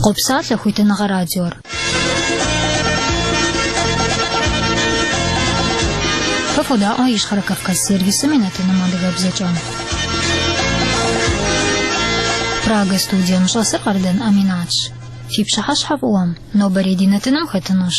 Къопсалъэ хуитыныгъэ радиор. Фэ фодаӏуэ Ищхъэрэ Кавказ сервисым и нэтыным адыгэбзэкӏэ. Прага студием щӏэсыр Къардэн Аминатщ. Фи пщыхьэщхьэ фӏыуэм, нобэрей ди нэтыным хэтынущ.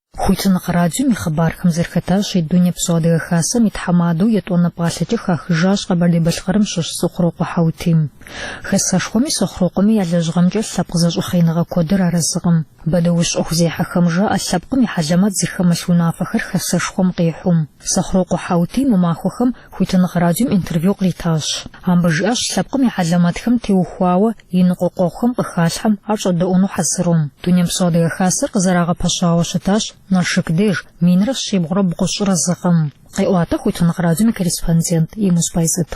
Хуитыныгъэ радиом и хъыбархэм зэрыхэтащи Дунейпсо Адыгэ Хасэм и тхьэмадэу етӏуанэ пӏалъэкӏэ хахыжащ Къэбэрдей-Балъкъэрым щыщ Сохъурокъуэ Хьэутим. Хэсэшхуэми Сохъурокъуэми я лэжьыгъэмкӏэ лъэпкъ зэщӏэхъееныгъэ куэдыр арэзыкъым. Бэдэущ ӏуэхузехьэхэм жаӏэ лъэпкъым и хьэлэмэт зыхэмылъ унафэхэр Хэсэшхуэм къихьум. Сохъурокъуэ Хьэутим мы махуэхэм Хуитыныгъэ радиом интервью къритащ. Амбы жиӏащ лъэпкъым и хьэлэмэтхэм теухуауэ и ныкъуэкъуэгъухэм къыхалъхьэм ар щӏэдэӏуну хьэзырум. Дунейпсо Адыгэ Хасэр къызэрагъэпэщауэ щытащ Налшык деж, минрэ щибгъурэ бгъущӏрэ зы гъэм, къеӏуатэ Хуитыныгъэ радиом и корреспондент Емуз Байзэт.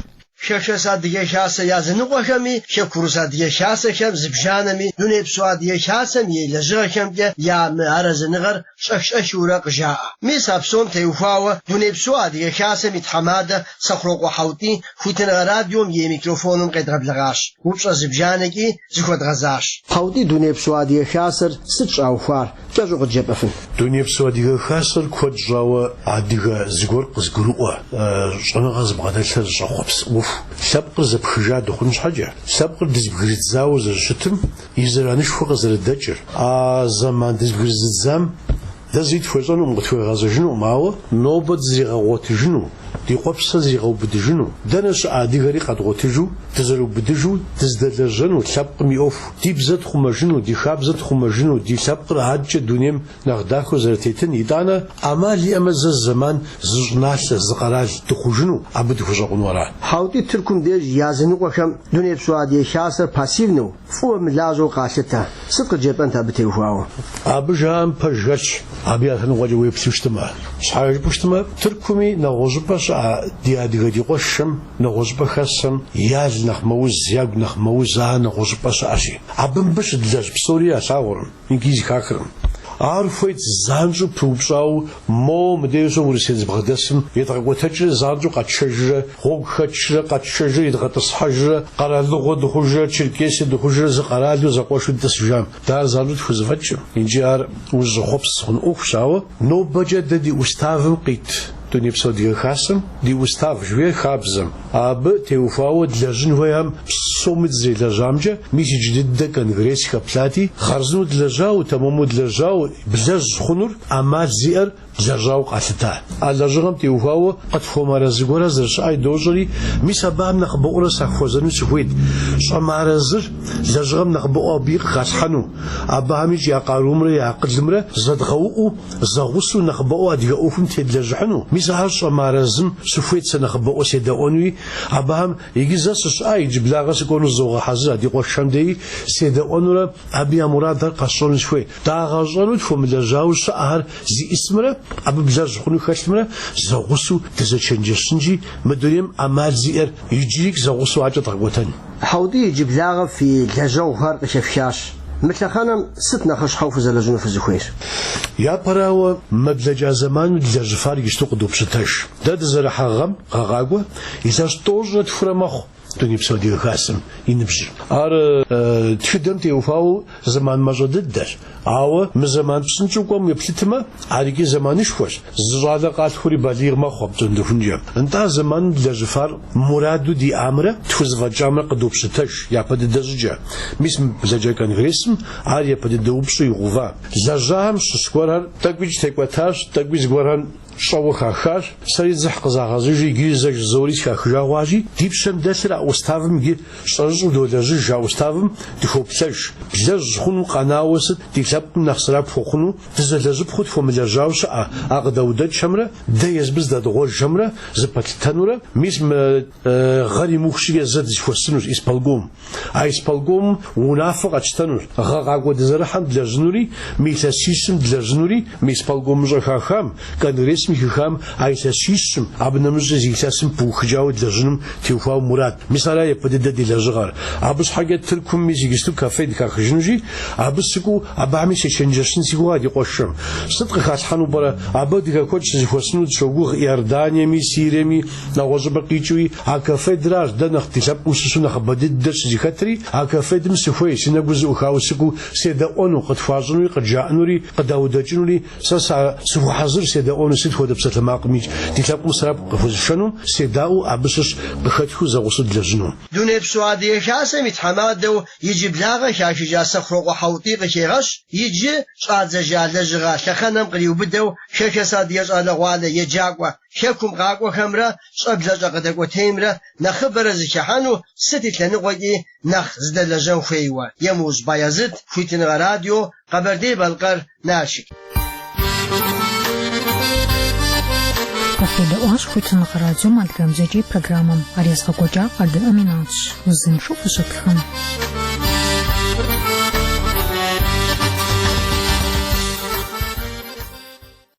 Хэхэс Адыгэ Хасэ языныкъуэхэми, хэкурыс Адыгэ Хасэхэм зыбжанэми, дунейпсо Адыгэ Хасэм и лэжьыгъэхэмкӏэ я мыарэзыныгъэр, щӏэх-щӏэхыурэ къыжаӏэ. Мис а псом теухуауэ Дунейпсо Адыгэ Хасэм и тхьэмадэ Сэхъурокъуэ Хьэутий Хуитыныгъэ радиом и микрофоным къедгъэблэгъащ, упщӏэ зыбжанэкӏи зыхуэдгъэзащ. Хьэутий, Дунейпсо Адыгэ Хасэр сыт щӏаухуар, кӏэщӏу къыджепӏэфын? Дунейпсо Адыгэ Хасэр куэд щӏауэ адыгэ зыгуэр къызгурыӏуэ, щӏэныгъэ зыбгъэдэлъхэр зыщӏэхъуэпс ӏуэху, лъэпкъыр зэпхыжа дыхъун щхьэкӏэ, лъэпкъыр дызбгырыдзауэ зэрыщытым, и зэранышхуэ къызэрыдэкӏыр. А зэман дызбгырызыдзам дэ зыри тхуещӏэнукъым, къытхуегъэзэжынукъым, ауэ нобэ дызэригъэгъуэтыжыну, ди къуэпсыр зэригъэубыдыжыну, дэнэ щыӏэ адыгэри къэдгъуэтыжу, дызэрыубыдыжу дызэдэлэжьэну, лъэпкъым и ӏуэху ди бзэ тхъумэжыну, ди хабзэ тхъумэжыну, ди лъэпкъыр адкӏэ дунейм Нэхъ дахэу зэрытетын, итӏанэ, ӏэмал иӏэмэ зэ зы зэман зы щӏыналъэ, зы къэрал дыхъужыну, абы дыхущӏэкъуну ара? Хьэутий, Тыркум деж языныкъуэхэм Дунейпсо Адыгэ Хасэр пассивнэу, фӏыуэ мылажьэу къалъытэ. Сыт къыджепӏэнт абы теухуауэ? Абы жаӏэм пэж хэлъщ, абы я лъэныкъуэкӏэ уеплъу щытымэ. Щхьэ жыпӏэу щытымэ, Тыркуми нэгъуэщӏыпӏэ щыӏэ ди адыгэ ди къуэшхэм нэгъуэщӏыпӏэ хэсхэм я л нэхъ мэуз, я гу нэхъ мэуз а нэгъуэщӏыпӏэ щыӏэщи. Абы мыбы щыдлэжь псори ялъагъуркъым. Икӏи зыхахыркъым. Ар хуейт занщӏэу пыупщӏауэ, Мо мыдэ уощӏэ Урысей дызбгъэдэсым, едгъэкӏуэтэкӏрэ занщӏэу къэтшэжрэ, гъуэгу хэтшрэ, къэтшэжрэ, едгъэтӏысхьэжрэ, къэралыгъуэ дыхъужрэ, Черкесие дыхъужрэ зы къэралу зэкъуэшу дытӏысыжам? Дэ ар занщӏэу тхузэфӏэкӏкъым. Икӏи ар узыщӏэхъуэпс хъун ӏуэхущ, ауэ нобэкӏэ дэ ди уставым къит Дунейпсо Адыгэ Хасэм ди устав жыхуиӏэр хабзэм, Абы теухуауэ длэжьын хуеяхэм псоми дызэрелэжьамкӏэ, мис иджы дыдэ конгресс хэплъати, хъарзынэу длэжьауэ, тэмэму длэжьауэ, блэжь хъунур ӏэмал зиӏэр длэжьауэ къалъыта. А лэжьыгъэм теухуауэ къытхуэмыарэзы гуэрэ зэрыщыӏэри дощӏэри, мис абыхэм нэхъыбэӏуэрэ сахуэзэну сыхуейт, щӏэмыарэзыр лэжьыгъэм нэхъыбэӏуэу абыи къыхалъхьэну, абыхэм икӏи я къарумрэ я акъылымрэ зэдгъэуӏуу, Зэгъусэу нэхъыбэӏуэу адыгэ ӏуэхум тедлэжьыхьыну, мис ахэр щӏэмыарэзым, сыхуейт сэ нэхъыбэӏуэ седэӏуэнуи, абыхэм, иджы зэ сыщыӏа иджыблагъэ сыкӏуэну зызогъэхьэзыр а ди къуэшхэм деи, седэӏуэнурэ, абы я мурадхэр къэсщӏэну сыхуей. Дагъэщӏэну тхуэмылэжьауэ щыӏэхэр зищӏысымрэ, абы блэжь хъуну хэлъымрэ, зэгъусэу дызэчэнджэщынщи, мы дунейм ӏэмал зиӏэр иджырик зэгъусэу адэкӏэ дгъэкӏуэтэн. Хьэутӏий, иджыблагъэ фи лэжьэгъухэр къыхэфхащ. Мы лъэхъэнэм сыт нэхъыщхьэу фызэлэжьыну фызыхуейр? Япэрауэ, мы блэкӏа зэманым длэжьыфар иджысту къыдопщытэж. Дэ дызэрыхьэ гъэм, гъэ къакӏуэ илъэс тӏощӏрэ тхурэ мэхъу Дунейпсо Адыгэ Хасэм и ныбжьыр. Ар тхыдэм теухуауэ зэман мащӏэ дыдэщ. Ауэ мы зэман псынщӏэу кӏуэм уеплъытмэ, ар икӏи зэманышхуэщ. Зы щӏалэ къалъхури балигъ мэхъу апщӏондэхункӏэ. Нтӏэ, зэманым длэжьыфар мураду диӏамрэ тхузэфӏэкӏамрэ къыдопщытэж япэ дыдэ щӏыкӏэ. Мис мы блэкӏа конгрессым ар япэ дыдэ упщӏэу игъэува. Лэжьахэм щыщ гуэрхэр тӏэкӏуикӏ текӏуэтащ, тӏэкӏуи зыгуэрхэр Щӏэуэ хахащ, сэри дзыхь къызагъэзыжри иджыри зэ жызоӏэри сыхахыжа хъуащи, ди пщэм дэлъыр а уставым иджы щӏэрыщӏэу долэжьыж, а уставым дыхоплъэж. Блэжь хъунуу къэнауэ сыт ди лъэпкъым нэхъ сэрэп хуэхъуну, дызэлэжьыпхъэу тхуэмылэжьауэ щыӏэ а къыдаудэкӏхэмрэ дэ езыбы зыдэдгъуэжхэмрэ зэпэтлъытынурэ, мис мы Гъэр имыух щӏыкӏэ дызэхуэсынущ исполком. А исполкомым унафэ къэтщтэнущ. Гъэ къакӏуэ дызэрыхьэм длэжьынури, мы илъэсищым длэжьынури, мы исполкомым щӏэуэ хахам, конгрессым хихам а илъэсищым, абы нэмыщӏкӏэ зы илъэсым пыухыкӏауэ длэжьыным теухуауэ мурад. Мис ара япэ дыдэ ди лэжьыгъэр. Абы щхьэкӏэ Тыркум мис иджысту Каффед хахыжынущи, абы сыкӏуэу, абыхьэми сечэнджэщын си гугъэ ди къуэшхэм. Сыт къыхалъхьэну пӏэрэ? Абы адыгэ куэд щызэхуэсыну дыщогугъ Иорданиеми, Сириеми, Нэгъуэщӏыпӏэ къикӏыуи, а Каффедыр арщ дэ нэхъ ди лъэпкъым щыщу нэхъыбэ дыдэ щызэхэтри, а Каффедым сыхуей, си нэгур зэӏухауэ сыкӏуэу седэӏуэну, къытхуащӏынури къыджаӏэнури, къыдаудэкӏынури, сэ са сыхуэхьэзыр седэӏуэну сыт хуэдэ псалъэмакъыми, ди лъэпкъым сэрэп къыхуэзышэну, седаӏуэу абы щыщ къыхэтхыу зэгъусэу длэжьыну. Дунейпсо Адыгэ Хасэм и тхьэмадэу иджыблагъэ хахыжа Сэхъурокъуэ Хьэутӏий къыхегъэщ иджы щӏадзэжа лэжьыгъэ лъэхъэнэм къриубыдэу хэхэс адыгэ щӏалэгъуалэ, еджакӏуэ, Хэкум къакӏуэхэмрэ щӏэблэщӏэ къыдэкӏуэтеймрэ нэхъыбэрэ зыхыхьэну сыт и лъэныкъуэкӏи нэхъ зыдэлэжьэн хуейуэ, Емыужь Баязыт, Хуитыныгъэ радио, Къэбэрдей-Балъкъэр, Налшык. Фыкъедэӏуащ Хуитыныгъэ радиом адыгэбзэкӏэ и программэм. Ар езыгъэкӏуэкӏар Къардэн Аминатщ, узыншэу фыщытхэ.